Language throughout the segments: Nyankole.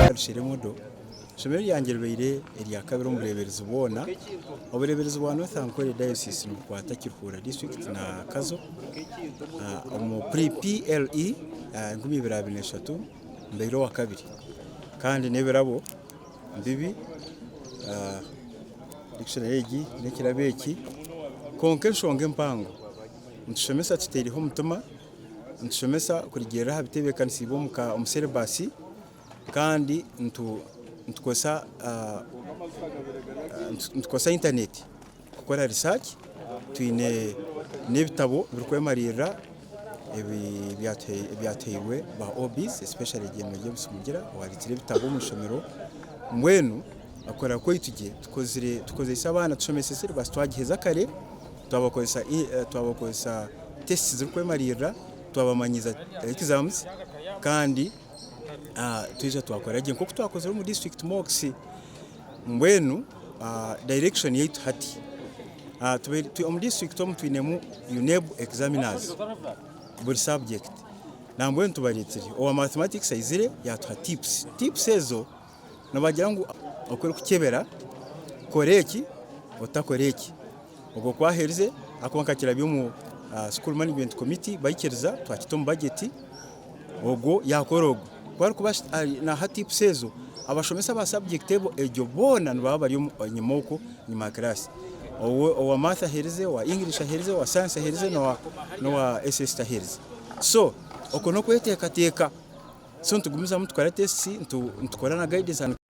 Katushaire Modo, eishomero ryangye ribaire erya kabiri omu bureeberezi bwona. Obureeberezi bwa North Ankole Diocese nibukwata Kiruhura District na Kazo omu pre PLE enkumi ibiri abiri na eshatu. Mbaire owa kabiri kandi n'ebirabo bibi, dictionary egi n'ekirabo eki, kwonka enshonga empango nitushomesa tutaireho omutima, nitushomesa kurigyerera aha bitebeekanisiibwe omu syllabus kandi nitukoresa internet. kukora research twine n'ebitabo ebirikwemariirira ebyatuhairwe ba OBs especially Ebyema by'Obusurugira owabikiire ebitabo omu ishomero mbwenu okukorera kwaitu gye tukozeise abaana tushomesa syllabus twagiheza kare twabakoresa tests zirikwemariirira twabamanyiisa exams kandi twija twakora gye nk'oku twakozire omu district mocks. Mbwenu direction yaitu hati omu district omu twinemu UNEB examiners buri subject nambwenu tubaretire owa mathematics aizire yatuha tips, tips ezo nibagira ngu oku orikukyebera kora eki otakora eki. Obwo kwaherize ahakuba nkakirabya omu School Management Committee baikiriza twakita omu budget ogwo yakora ogwo ku arikuba naha tips ezo abashomesa aba subject egyo boona nibaba bari enyima okwo enyima ya class owa Math aherize owa English aherize owa Science aherize nowa SST aherize so okwo nokwetekateka so nitugumizamu tukora tests nitukora na guidance and.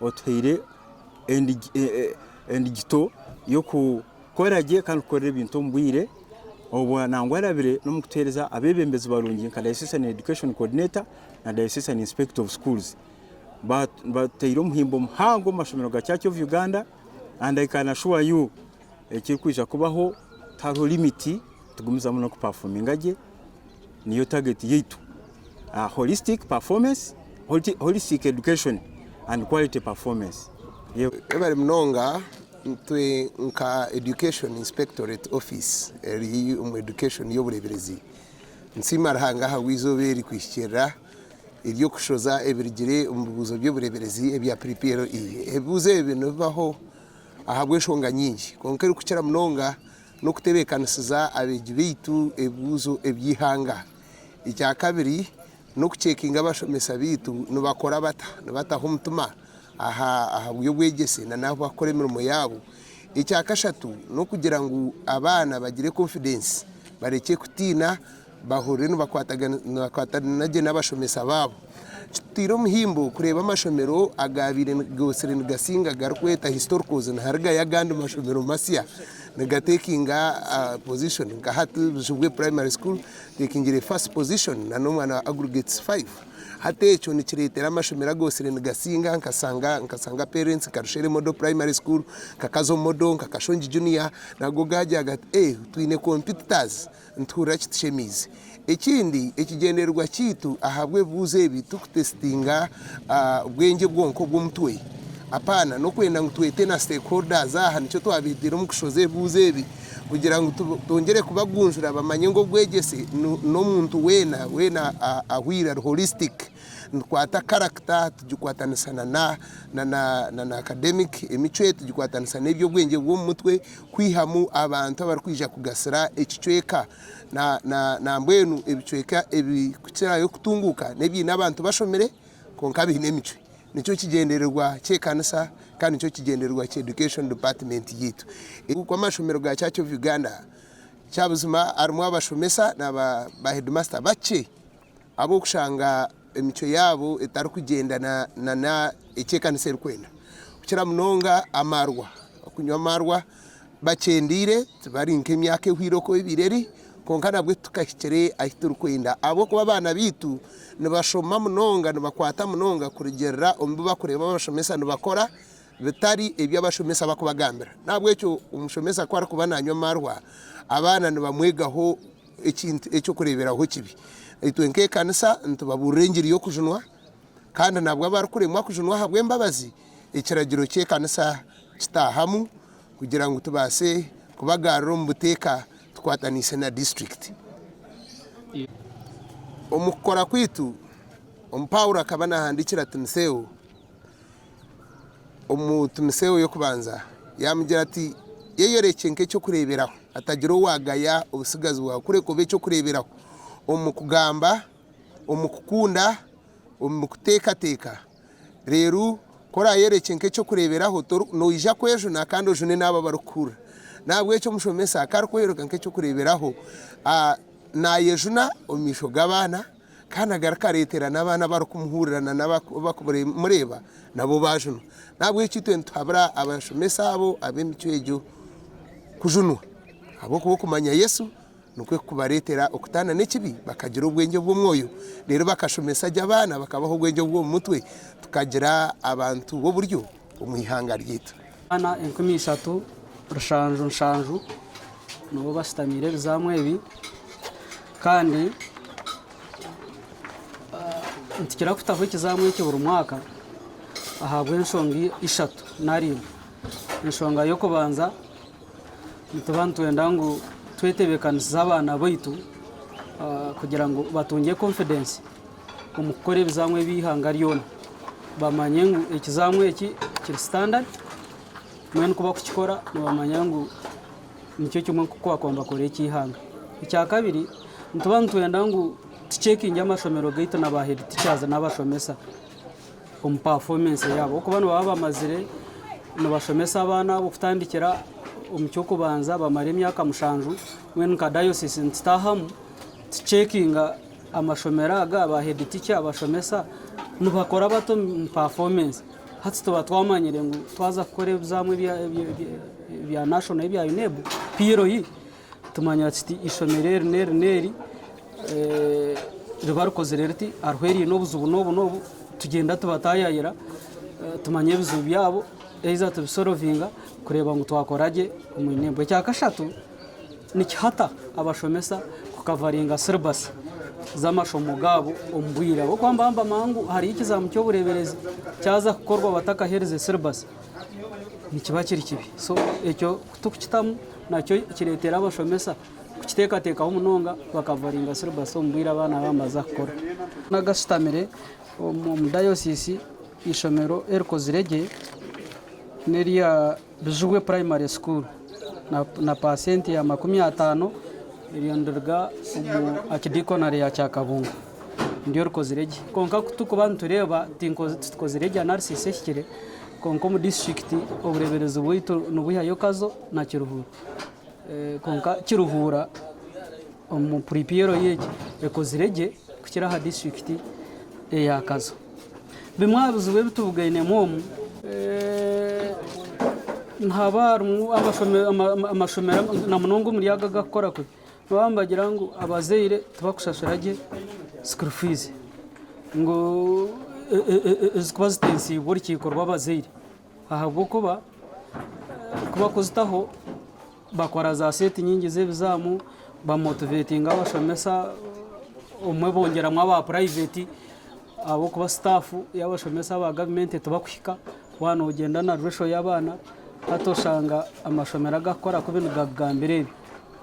Otuhaire endigito y'okukora gye kandi kukorera ebintu omu bwire obwa nangwa arabire n'omu kutuhereza abebembezi barungi nka Diocesan Education Coordinator na Diocesan Inspector of Schools. Batuteire omuhimbo muhango omu mashomero ga Church of Uganda and I can assure you ekirikwija kubaho tihariho limit tugumizamu n'okupafominga gye. niyo target yaitu aha holistic performance, holistic education and quality performance. Webale munonga, itwe nka Education Inspectorate Office eri omu Education y'obureeberezi, nsiima Ruhanga ahabw'eizooba eri kwihikirira ery'okushoza ebirugire omu bibuuzo by'obureeberezi ebya PPLE. Ebibuuzo ebi nibibaho ahabw'enshonga nyingi kwonka erikukira munonga n'okutebeekanisiza abeegi baitu ebibuuzo eby'eihanga. Ekya kabiri, n'okuceekinga abashomesa baitu nibakora bata, nibataho omutima aha by'obwegyese n'ahu barikukora emirimo yaabo. Ekya kashatu, n'okugira ngu abaana bagire konfidensi, barekye kutiina Bahurire nibakwatana gye n'abashomesa baabo. Kitutaire omuhimbo kureeba amashomero agaabaire gootsire nigatsinga agarikweta historicals niharigayo agandi mashomero matsya nigatekinga position nka hati Buzibwe Primary School etekingire first position na n'omwana wa Aggregates five. Hati ekyo nikireetera amashomero agootsire nigatsinga nka Sanga nka Sanga Parents, nka Rushere Model Primary School, nka Kazo Model, nka Kashongi Junior nago gaagyaga ati ee twine competitors Nituhurira kitushemeize. Ekindi, ekigyendererwa kyaitu ahabw'ebibuuzo ebi ti kutesitinga bwengye bwonka obw'omutwe. Apaana, n'okwenda ngu twete na stakeholders aha nikyo twabeeteire omu kushoza ebibuuzo ebi kugira ngu twongyere kubagunjura bamanye ngu obwegyese n'omuntu weena weena ahweire ari holistic. Nitukwata character tugikwatanisa na academic, emicwe tugikwatanisa n'eby'obwengye bw'omu mutwe, kwihamu abantu abarikwija kugasira ekicweka nambwenu ebicweka ebirikukirayo kutunguuka n'ebiine abantu bashomire kwonka biine emicwe nikyo kigyendererwa ky'ekanisa kandi nikyo kigyendererwa kya education department yaitu ahakuba amashomero ga church of Uganda kyabuzima harimu abashomesa na ba headmaster bakye. Ahabw'okushanga emicwe yaabo etarikugyendana na n'eki ekanisa erikwenda, kukira munonga amaarwa, okunywa amaarwa bakyendeire, tibari nk'emyaka ehweire oku ebaire eri, kwonka nabwo titukahikire ahu turikwenda ahabw'okuba abaana baitu nibashoma munonga, nibakwata munonga kurugiirira omu bi barikureeba abashomesa nibakora, bitari ebi abashomesa barikubagambira. N'ahabw'ekyo omushomesa ku arikuba naanywa amaarwa, abaana nibamwegaho. Ekintu eky'okureeberaho kibi. Itwe nk'ekanisa nitubabuurira engiri y'okujunwa, kandi nabwo abarikuremwa kujunwa ahabw'embabazi, ekiragiro ky'ekanisa kitaahamu kugira ngu tubaase kubagaarira omu buteeka tukwataniise na disiturikiti. Omu kukora kwaitu, Omu Paulo akaba naahandiikira Timotheo. omu Timoseeho y'Okubanza, yaamugira ati, Yeyorekye nk'eky'okureeberaho, hatagira owaagaya obutsigazi bwawe, kureka obe eky'okureeberaho omu kugamba, omu kukunda, omu kuteekateeka. Reero ku oraayorekye nk'eky'okureeberaho, noija kwejuna kandi ojune n'abo abarikukuhurira. N'ahabw'ekyo omushomesa ku arikwoyoreka nk'eky'okureeberaho, naayejuna omu maisho g'abaana. kandi agari kareetera n'abaana abarikumuhurira na n'abakumureeba nabo baajunwa. N'ahabw'ekyo itwe nituhabura abashomesa abo ab'emicwe egyo kujunwa, ahabw'okuba okumanya Yesu nikwo kukubareetera okutaana n'ekibi bakagira obwengye obw'omwoyo, reero bakashomesa gye abaana bakabaha obwengye obw'omu mutwe, tukagira abantu b'oburyo. omu ihanga ryaitu. Abaana enkumi ishatu rushanju nshanju nibo bashutamiire ebizaamu ebi kandi nitukira kutaho ekizaamu eki buri mwaka ahabw'enshonga ishatu nari ibiri. Enshonga y'okubanza nituba nitwenda ngu twetebeekanisize abaana baitu kugira ngu batungye konfidensi. omu kukora ebizamu eby'eihanga ryona bamanye ngu ekizamu eki kiri standard mbwenu ku barikukikora nibamanya ngu nikyo kimwe nk'oku baakuba nibakorera eky'eihanga. Ekyakabiri nituba nitwenda ngu tuceekingye amashomero gaitu na ba heedi tichazi n'abashomesa omu pafomensi yaabo ahabw'okuba nibaba bamazire nibashomesa abaana abo kutandikira omu ky'okubanza bamare emyaka mushanju mbwenu nka dayosisi nitutaahamu tuceekinga Amashomero aga ba head teacher, abashomesa nibakora bata omu performance? Hati tuba twamanyire ngu twaza kukora ebizaamu ebya national ebya UNEB, PLE, tumanya kiti ishomero eri n'eri n'eri eh, riba rikozire riti hariho eriine obuzibu n'obu n'obu tugyenda tubatayayira eh, tumanye ebizibu byabo eiza tubisorovinga kureeba ngu twakora gye omu UNEB. Ekya kashatu Ni kihata abashomesa kukavaringa siribasi z'amashomo gaabo omu bwire ahabw'okuba nibahamba amaha ngu hariyo ekizaamu ky'obureeberezi kyaza kukorwa batakaherize siribasi nikiba kiri kibi. So ekyo ku turikukitamu nakyo kireetere abashomesa kukiteekateekaho munonga bakavaringa siribasi omu bwire abaana baabo nibaza kukora. Nagashutamire omu dayosiisi eishomero erikozire gye n'erya Bijubwe Primary School na paasenti ya makumi ataano eryo niriruga omu Akidikonare ya Kyakabungo niryo rikozire gye. Kwonka ku turikuba nitureeba titukozire gye analysis ehikire kwonka omu disiturikiti obureeberezi bwaitu nibwihayo Kazo na Kiruhura kwonka Kiruhura omu puripiyero ye ekozire gye kukira aha disiturikiti eya Kazo. Bimwe aha bizibu ebi tubugainemu omu nihaba harimu amashomero na munonga omuri aga agarikukora kubi nooba nibagira ngu abazaire tibarikushashura gye sikuuru fiizi ngu ezikuba zitensiibwe orukiiko rw'abazaire ahabw'okuba kuzitaho Bakora za seti nyingi z'ebizaamu, bamotivetinga abashomesa, obumwe bongyeramu aba purayiveti ahabw'okuba sitaafu y'abashomesa aba gavumenti tibakuhika. Waaba noogyenda na ruresho y'abaana, hati oshanga amashomero agakukora kubi nigakugambira ebi.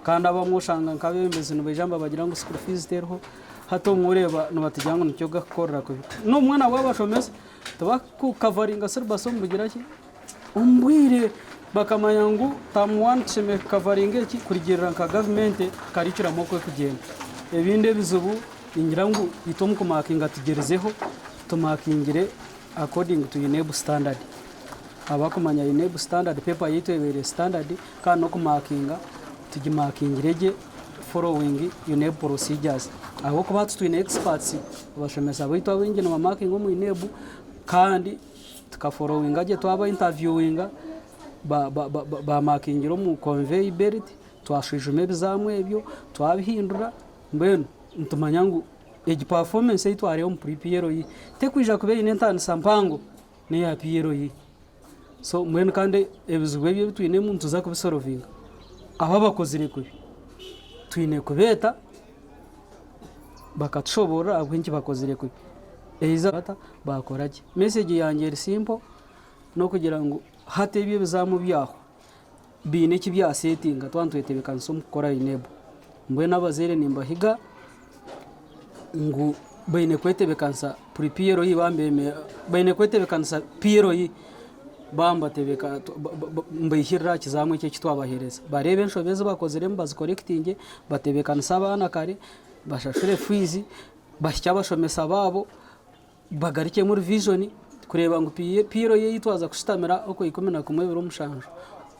Kandi abamwe oshanga nk'abeebembezi nibaija nibagira ngu sukuuru fiizi teriho, hati obumwe oreeba nibatugambira ngu nikyo gakukukorera kubi. N'obumwe nabwo abashomesa tibakukavaringa siribasi omu kugira ki? Omu bwire bakamanya ngu term one tushemereire kukavaringa eki kurigirira nka gavumenti curriculum oku erikugyenda. Ebindi ebizibu ningira ngu itwe omu kumakinga tugyerizeho tumakingire according to UNEB standard. Ahabw'okumanya UNEB standard paper yaitu ebaire standard kandi n'okumakinga tugimakingire gye following UNEB procedures. Ahabw'okuba hati twine experts, abashomesa baitu abaingi nibamakinga omu UNEB kandi Tukaforowinga gye twaba intaviuwinga, baamakingire omu konveyi beriti, twashwijuma ebizaamu ebyo, twabihindura, mbwenu nitumanya ngu egi pafomensi ei twareeba omu puri PLE tekwija kuba eine ntaanisa mpango n'eya PLE. So mbwenu kandi ebizibu ebi ebi twinemu nituza kubisorovinga. Abu abakozire kubi twine kubeeta. Bakatushoborora ahabw'okuba enki bakozire kwe eiza bata bakora gye. Message yangye eri simple n'okugira ngu hati ebyo ebizaamu byahwa biine eki bya settinga twaba nitwetebekanisa omu kukora UNEB. Mbwenu abazaire nimbahiga ngu baine kwetebekanisa pre PLE baine kwetebekanisa PLE. mbaihirire aha kizaamu eki twabaheereza. Bareeba enshobi ezi bakoziremu bazikorekitingye, batebeekanise abaana kare, bashashure fiizi, bahikye abashomesa baabo, bagarukyemu rivijoni kureeba ngu piiyiro yaitu twaza kushitamira okw'eikumi na kumwe ebiri omushanju.